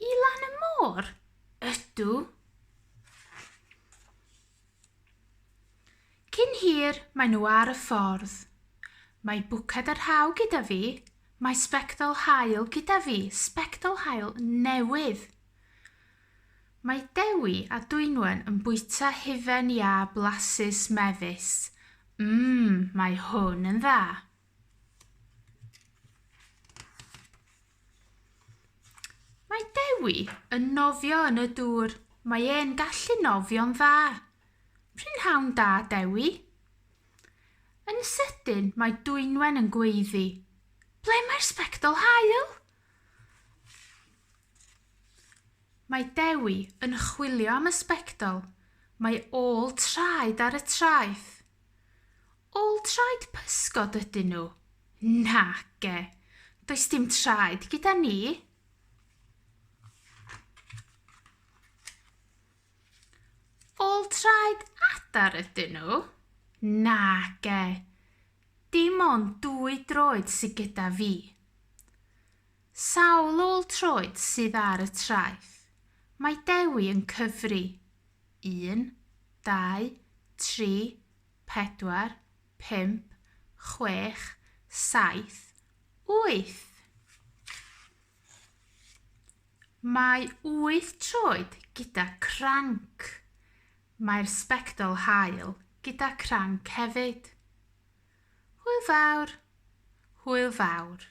I lan y môr? Ydw. Cyn hir, maen nhw ar y ffordd. Mae bwced a rhaw gyda fi. Mae sbectol haul gyda fi. Sbectol haul newydd. Mae Dewi a Dwynwen yn bwyta hufen iâ blasus mefus. Mmm, mae hwn yn dda. Mae Dewi yn nofio yn y dŵr. Mae e'n gallu nofio'n dda. Prynhawn da, Dewi. Yn sydyn, mae Dwynwen yn gweiddi. Ble mae'r sbectol hael? Mae Dewi yn chwilio am y sbectol. Mae ôl traed ar y traeth. All traed pysgod ydyn nhw? Nage, does dim traed gyda ni. All traed adar ydyn nhw? Nage, dim ond dwy droed sydd gyda fi. Sawl ôl-troed sydd ar y traeth? Mae Dewi yn cyfri. Un, dau, tri, pedwar, pump, chwech, saith, wyth! Mae wyth troed gyda cranc. Mae'r sbectol haul gyda cranc hefyd. Hwyl fawr! Hwyl fawr!